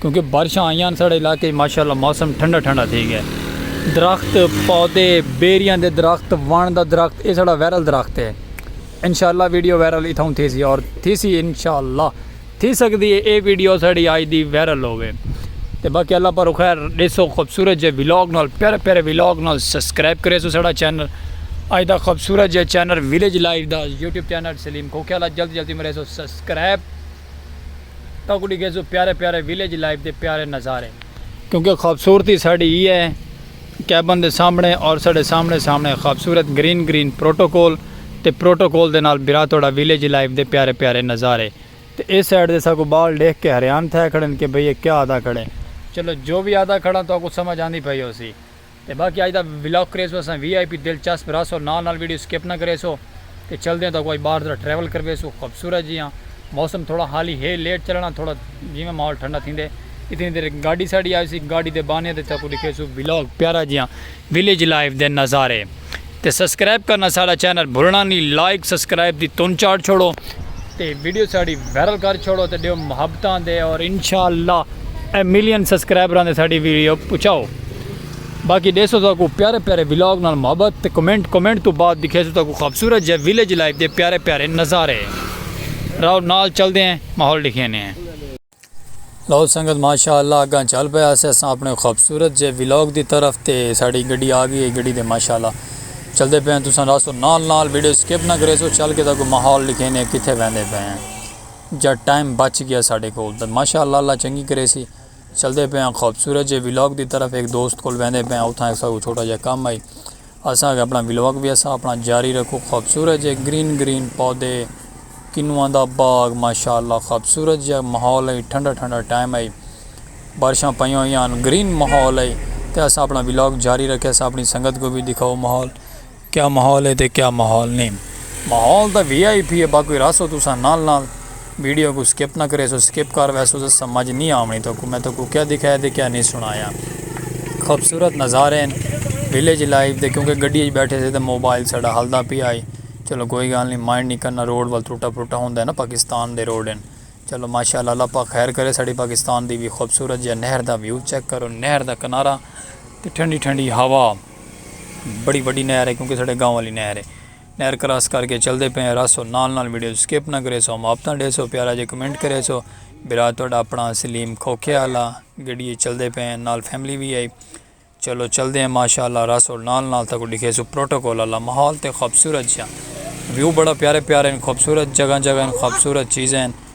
کیونکہ بارشاں آئیاں ساڑے علاقے اچ ماشاءاللہ موسم ٹھنڈا ٹھنڈا تھی گیا ہے درخت پودے بیریاں دے درخت وان دا درخت اے ساڑا وائرل درخت ہے انشاءاللہ ویڈیو وائرل اتھاؤں تھی سی اور تھی سی انشاءاللہ تھی سکدی ہے اے ویڈیو ساڑی آج دی وائرل ہووے تے باقی اللہ پر خیر ڈیسو خوبصورت جے ویلاگ نال پیارے پیارے ویلاگ نال سبسکرائب کرے سو ساڑا چینل آج دا خوبصورت جے چینل ویلیج لائف دا یوٹیوب چینل سلیم کھوکھے والا جلدی جلدی مرے سو سبسکرائب تہاکوں ڈیکھیسوں پیارے پیارے ویلیج لائف دے پیارے نظارے۔ کیونکہ خوبصورتی ساڈی ایہہ ہے کیبن دے سامنے اور ساڈے سامنے سامنے خوبصورت گرین گرین پروٹوکول تے پروٹوکول دے نال بھرا تہاڈا ویلیج لائف دے پیارے پیارے نظارے۔ تے ایہہ سائیڈ دے ساکوں بال ڈیکھ کے حریان تھئے کھڑن کہ بھئی ایہہ کیا آہدا کھڑے۔ چلو جو وی آہدا کھڑاں تہاکوں سمجھ آندی پئی ہوسی۔ تے باقی اج دا ولاگ کریسوں اساں وی آئی پی دلچسپ رہسو نال نال ویڈیو سکپ نہ کریسو تے چلدے آں تہاکوں اج باہر ذرا ٹریول کرویسوں خوبصورت جیہاں موسم تھوڑا حالی ہے لیٹ چلنڑاں تھوڑا جیویں ماحول ٹھنڈا تھیندے اتنی دیر ہک گاڈی ساڈی آویسی گاڈی دے بانیاں تے تہاکوں ڈکھیسوں ولاگ پیارا جیہاں ولیج لائف دے نظارے۔ تے سبسکرائب کرنا ساڑا چینل بھولنا نی لائک سبسکرائب دی تن چاڑ چھوڑو تے ویڈیو ساڑی وائرل کر چھوڑو تے ڈیو محبتاں دے اور انشاءاللہ اے ملین سبسکرائبراں دے ساڑی ویڈیو پچاؤ باقی ڈیسو تو کو پیارے پیارے ویلاگ نال محبت تے کمنٹ کمنٹ تو بعد دکھیسو تو کو خوبصورت جے ویلیج لائف دے پیارے پیارے نظارے راؤ نال چل دے ہیں ماحول دکھینے ہیں لو سنگت ماشاء اللہ اگاں چل پئے آسے اساں اپنے خوبصورت جے ویلاگ دی طرف تے ساڑی گڈی آگی ہے گڈی دے ماشاء اللہ چلدے پئے ہیں تساں راسو نال نال ویڈیو سکپ نہ کریسو چل کے تاکو ماحول لکھینے ہیں کتھے ویندے پئے ہیں جا ٹائم بچ گیا ساڑے کول تے ماشاء اللہ اللہ چنگی کریسی چلدے پئے ہیں خوبصورت جے ویلاگ دی طرف ایک دوست کول ویندے پئے ہیں اتھاں ایک ساڑو چھوٹا جا کام آئی اساں اگے اپنا ولاگ وی اساں اپنا جاری رکھو خوبصورت جے گرین گرین پودے کنواں دا باغ ماشاءاللہ خوبصورت جا ماحول ہے ٹھنڈا ٹھنڈا ٹائم ہے بارشاں پئیاں ہویاں ہن گرین ماحول ہے تے اساں اپنا ولاگ جاری رکھے اساں اپنی سنگت کو وی دکھاؤ ماحول کیا ماحول ہے تے کیا ماحول نہیں ماحول دا وی آئی پی ہے باقی راسو تساں نال نال ویڈیو کوں سکپ نہ کریسو سکپ کر ویسو تاں سمجھ نی آونڑی تہاکوں میں تہاکوں کیا دکھایا تے کیا نی سنڑایا خوبصورت نظارے ہن ویلیج لائف دے کیونکہ گڈی اچ بیٹھے سے تاں موبائل ساڈا ہلدا پیا ہئی چلو کوئی گالھ نی مائنڈ نی کرنا روڈ ول ترٹا پھرٹا ہوندا ہے نا پاکستان دے روڈ ہن چلو ماشاءاللہ اللہ پاک خیر کرے ساڈی پاکستان دی وی خوبصورت جیہا نہر دا ویو چیک کرو نہر دا کنارہ تے ٹھنڈی ٹھنڈی ہوا بڑی وڈی نہر ہے کیونکہ ساڈے گاؤں والی نہر ہے۔ نہر کراس کر کے چلدے پئے ہیں رہسو نال نال ویڈیوز سکپ نہ کریسو ہم آپتاں ڈیسو پیارا جے کمنٹ کریسو برا تہاڈا اپنا سلیم کھوکھے آلا گڈی اچ چلدے پئے ہیں نال فیملی وی ہئی چلو چلدے ہیں ماشاءاللہ رہسو نال نال تہاکوں ڈکھیسو پروٹوکول آلا ماحول تے خوبصورت جیاں ویو بڑا پیارے پیارے ہن خوبصورت جگہ جگہ ہن خوبصورت چیزیں ہن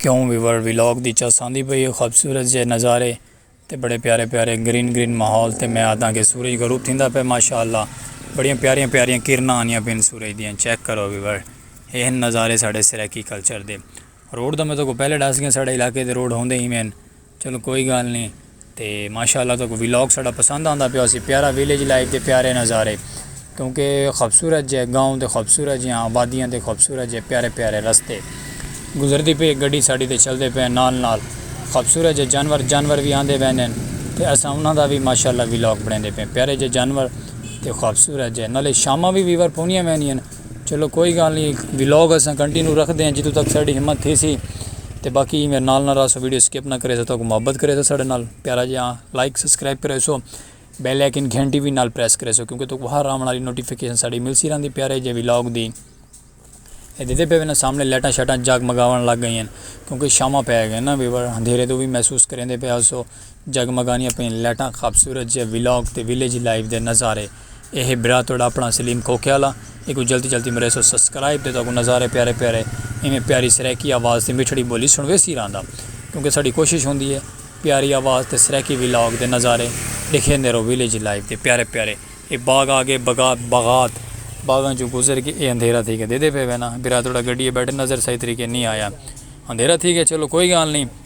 کیوں ویور ولاگ دی چس آندی پئی ہے خوبصورت جے نظارے تے بڑے پیارے پیارے گرین گرین ماحول تے میں آدھاں کہ سورج غروب تھیندا پئے ماشاءاللہ بڑیاں پیاریاں پیاریاں کرناں آندیاں پئین سورج دیاں چیک کرو ویور اے ہن نظارے ساڈے سرائیکی کلچر دے روڈ دا میں تہاکوں پہلے ڈس گیاں ساڈے علاقے دے روڈ ہوندے ایویں ہن۔ چلو کوئی گالھ نی تے ماشاء اللہ تہاکوں ولاگ ساڈا پسند آندا پیا ہوسی پیارا ویلیج لائف دے پیارے نظارے کیونکہ خوبصورت جے گاؤں دے خوبصورت جیاں آبادیاں دے خوبصورت جے پیارے پیارے رستے گزردی پئی اے گڈی ساڈی تے چلدے پئے نال نال خوبصورت جے جانور جانور وی آندے ویندے ہن تے اساں انہاں دا وی ماشاء اللہ ولاگ بنڑیندے پئے پیارے جے جانور تے خوبصورت جے نالے شاماں وی ویور پونیاں ویندیاں ہن۔ چلو کوئی گال نی ولاگ اساں کنٹینیو رکھدے ہیں جتھوں تک ساڈی ہمت تھیسی تے باقی میرے نال نال رہسو ویڈیو سکپ نہ کریسو تاکو محبت کریسو ساڈے نال پیارا جیا لائک سبسکرائب کریسو بیل آئیکن گھنٹی وی نال پریس کریسو کیونکہ تاکو ہر آون والی نوٹیفکیشن ساڈی ملسی رہندی پیارے جے ولاگ دی اے دیکھدے پے وینا سامنے لائٹاں شائٹاں جگمگاون لگ گئین کیونکہ شاماں پے گئین نا اندھیرے توں وی محسوس کریندے پے ہسو۔ جگمگانیاں پئیں لائٹاں خابصورت جیہے ولاگ تے ویلیج لائف دے نظارے اے ہے برا تہاڈا اپنا سلیم کھوکھیالہ ایکوں جلدی جلدی مریسو سبسکرائب تے تہاکوں نظارے پیارے پیارے ایویں پیاری سرائیکی آواز تے مٹھڑی بولی سنڑویسی رہندا کیونکہ ساڈی کوشش ہوندی ہے پیاری آواز تے سرائیکی ولاگ دے نظارے ڈکھیندے رہو ویلیج لائف دے پیارے پیارے اے باغ آگے بغات باغات باغاں چوں گزر کے اے اندھیرا تھی گیا دیدھے پئے وینا برا تہاڈا گڈی اچ بیٹھے نظر صحیح طریقے نی آیا اندھیرا تھی گیا چلو کوئی گالھ نی۔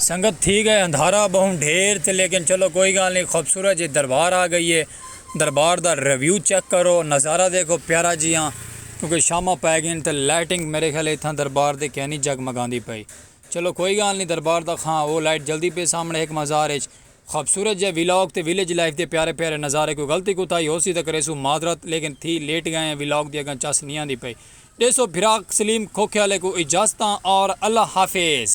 سنگت تھی گئے اندھارا بہوں ڈھیر تے لیکن چلو کوئی گال نی خوبصورت جی دربار آ گئی ہے دربار دا ریویو چیک کرو نظارہ دیکھو پیارا جیہاں کیونکہ شاماں پے گین تے لائٹنگ میرے خیال اتھاں دربار دی کینی جگمگاندی پئی چلو کوئی گال نی دربار دا خاں او لائٹ جلدی پئی سامنے ہک مزار اچ خوبصورت جیہا ویلاگ تے ویلج لائف دے پیارے پیارے نظارے کوئی غلطی کوتاہی ہوسی تاں کریسوں معذرت لیکن تھی لیٹ گئے ہیں ویلاگ دی اگاں چس نی آندی پئی ڈیسو پھراک سلیم کھوکھیالے کوں اجازتاں اور اللہ حافظ۔